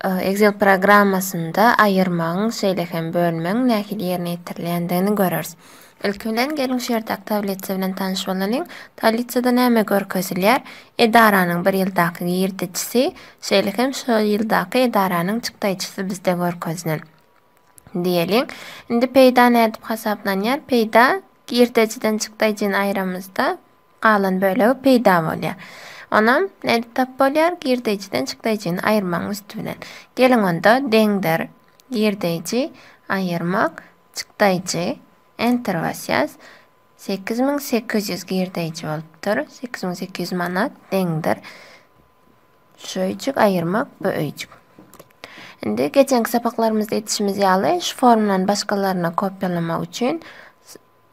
Excel programmasynda aýyrmagyň, şeýle hem bölmegiň nähili ýerine ýetirilýändigini göreris. Ilki bilen, geliň şu ýerdäki tablitsa bilen tanyş bolalyň. Tablitsada näme görkezilýär? Edaranyň bir ýyldaky girdejisi, şeýle hem şol ýyldaky edaranyň çykdaýjysy bizde görkezilen. Diýeliň. Indi peýda nädip hasaplanýar? Peýda girdejiden çykdaýjyny aýramyzda Galan bölegi peýda bolýar. Onam nädip tap bolýar? Girdeýjiden çykdaýjyny aýyrmagyň üsti bilen. Geliň onda, deňdir, girdeýji, aýyrmak, çykdaýjy, Enter basýas. Sekiz müň sekiz ýüz girdeýji bolupdyr. Sekiz müň sekiz ýüz manat, deňdir. Şu öýjük, aýyrmak, bu öýjük. Indi geçenki sapaklarymyzda etişimiz ýaly şu formlan başgalaryna kopýalamak üçin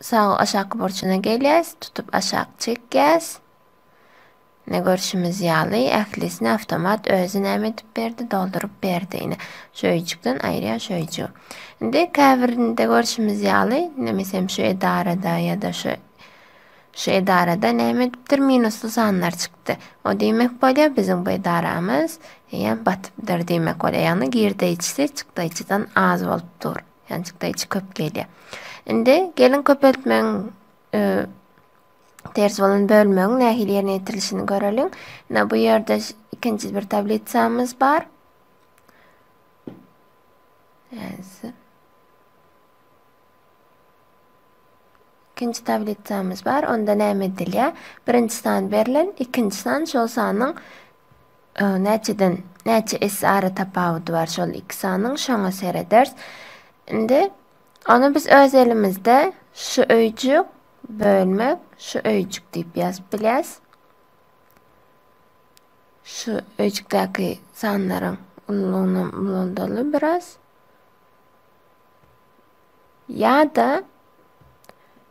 Sag aşaky burçuna gelýäs, tutup aşak çekýäs. Ine görşümiz ýaly ählisini awtomat özi näme edip berdi, dolduryp berdi. Ine şu öýjükden aýyrýan şu öýjügi. Indi käbirinde görşümiz ýaly, ine meselem şu edarada ýa-da şu şu edarada näme edipdir minusly sanlar çykdy. O diýmek bolýar biziň bu edaramyz eýýäm batypdyr diýmek bolýar. Ýagny girdeýjisi çykdaýjydan az bolup dur. Ýanjykda içi köp gelýär. Indi gelin köpeltmegiň e, ters bolan bölmegiň nähili ýerine ýetirilişini göreliň. Ine bu ýerde ikinji bir tablisamyz bar. Ýanjy. İkinci tablisamyz bar. Onda näme edilýär? Birinji san berlen, ikinci san şol sanyň Näçeden näçe esse ara tapawudy bar şol iki sanyň şoňa sereders. Indi ony biz öz elimizde şu öýjük bölmek şu öýjük diýip ýazyp bilýäs. Şu öýjükdäki sanlaryň ululygyny ulaldaly biraz. Ýa-da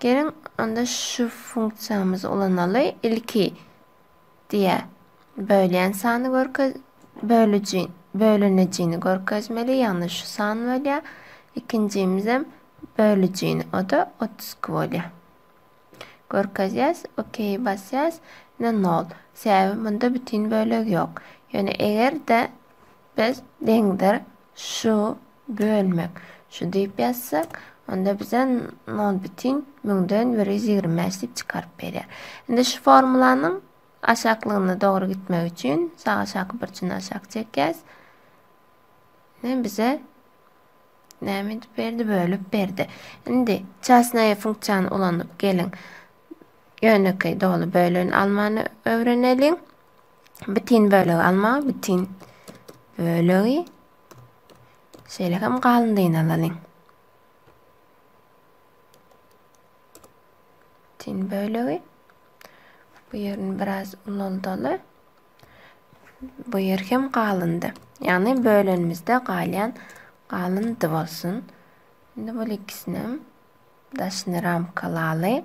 Geliň, onda şu funksiýamyzy ulanaly. Ilki diýýär, bölýän sany görkez, bölüji, bölünijini görkezmeli, ýagny şu san bolýar. Ikinjimizem bölüjini, o-da 32 bolýar. Görkezýäs, OK basýas, ine 0. Sebäbi munda bütin bölek ýok. Ýöne eger-de Biz deňdir şu bölmek şu diýip ýazsak, onda bize nol bütin müňden bir ýüz ýigrimi bäş diýip çykaryp berýär. Indi şu formulanyň aşaklygyna dogry gitmegi üçin sag aşaky burjuny aşak çekýäs. Ne bize näme edip berdi? Bölüp berdi. Indi çasnaýa funksiýany ulanyp geliň. Ýönekeý doly böleni almany öwreneliň. Bütin bölegi alma, bütin bölegi. Şeýle hem galyndyny alalyň. Bütin bölegi. Bu ýerini biraz ulaldaly. Bu ýer hem galyndy. Ýagny bölenimizde galýan galyndy bolsun. Indi bu ikisini daşyny ramkalaly.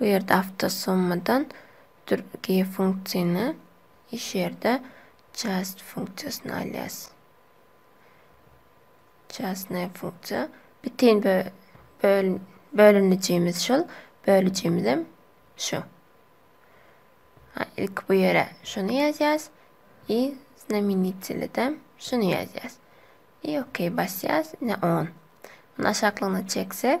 Bu ýerde awtosummydan durgi funksiýny iş ýerde just funksiýasyny alýas. Just ne funksiýa. Bitin bö böl bölünijimiz şol, bölüjimizem şu. Ha, ilk bu ýere şuny ýazýas i znamenitelidem şuny ýazýas. I okey basýas, ne 10. Muny aşaklygyna çeksek,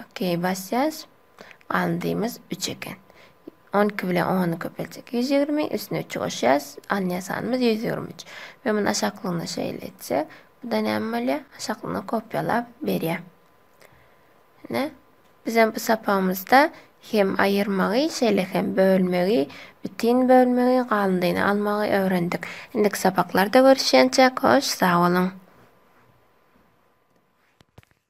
Ok basýas. Galyndyymyz üç eken. On iki bilen ony köpeljek ýüz ýigrimi. Üstüne üçi goşýas. Alynýan sanymyz ýüz ýigrimi üç. Men muny aşaklygyna şeýle etsek. Bu-da näme bolýar? Aşaklygyna kopýalap berýär. Ine. Bizem bu sapagymyzda hem aýyrmagy, şeýle hem bölmegi, bütin bölmegi, galyndyny almagy öwrendik. Indiki sapaklarda görüşýänçäk, hoş sag boluň!